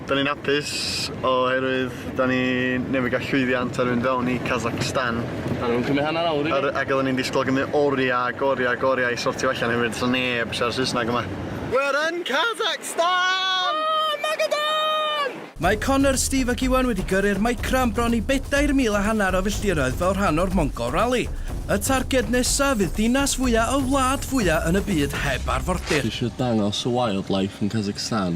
Da ni'n hapus oherwydd da ni newydd gael llwyddiant ar fynd fewn i Kazakhstan. A nhw'n cymryd hanner awr i ni. Ac oedden ni'n disgwyl gymryd oriau ac oriau ac oriau i sortio allan hefyd, so neb siarad Saesneg yma. We're in Kazakhstan! Oh, Magadan! Mae Connor, Steve ac Iwan wedi gyrru'r Micra am bron i bedair mil a hanner o filltiroedd fel rhan o'r Mongol Rally. Y targed nesaf fydd dinas fwya' y wlad fwya' yn y byd heb arfordir. Dwi isio dangos y wildlife yn Kazakhstan.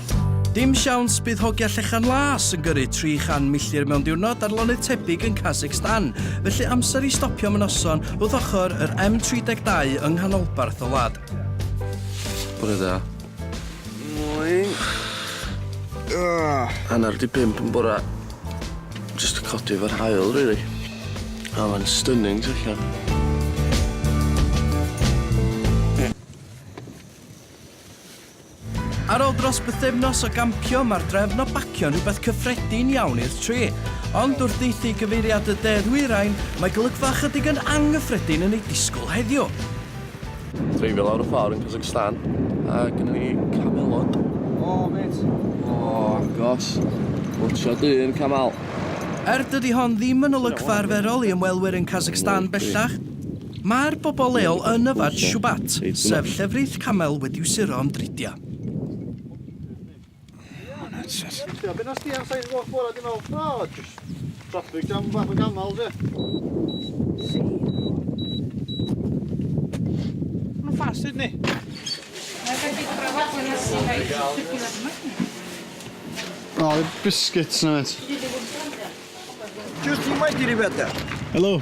Dim siawns bydd hogia Llechan Las yn gyrru 300 milltir mewn diwrnod ar lonydd tebyg yn Kazakhstan, felly amser i stopio am y noson wrth ochr yr M32 yng nghanolbarth y wlad. Bore da. Morning. Hanner di pump yn bora. Just to codi efo'r hael, really. A mae'n stunning, ti'n allan. Ar ôl dros bythefnos o gampio, mae'r drefn o bacio'n rhywbeth cyffredin iawn i'r tri. Ond wrth ddieithu gyfeiriad y De Ddwyrain, mae golygfa ychydig yn anghyffredin yn ei disgwyl heddiw. Dreifio lawr y ffordd yn Kazakhstan a gynna ni camelod. O, mêt! O, agos. Watcha dyn, camel. Er dydi hon ddim yn olygfa arferol i ymwelwyr yn Kazakhstan bellach, Mae'r bobl leol yn yfed Shubat, sef llefrith camel wedi'w suro am dridiau. Oh, biscuits na mêt. Just you wait here, Rebecca. Helo.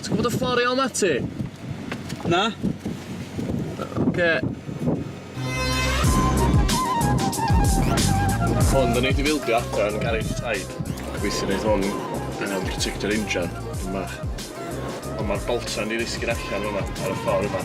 Ti'n gwbod y ffor i ôl ma ti? Na. Oce. Hwn, da ni di fildio adra yn garej taid. Gobeithio neith hwn yym protecto'r injan, dipyn bach. Ond ma'r boltsa'n di ddisgyn allan fyma ar y ffor yma.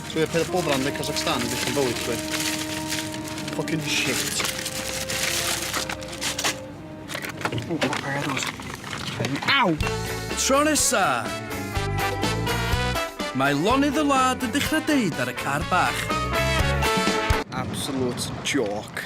Dwi ar peth bob ran de Kazakhstan yn dechyn bywyd chwe. Fucking shit. O, pa pa pa pa Aw! Tro nesa! Mae lonydd y wlad yn dechrau deud ar y car bach. Absolute joke.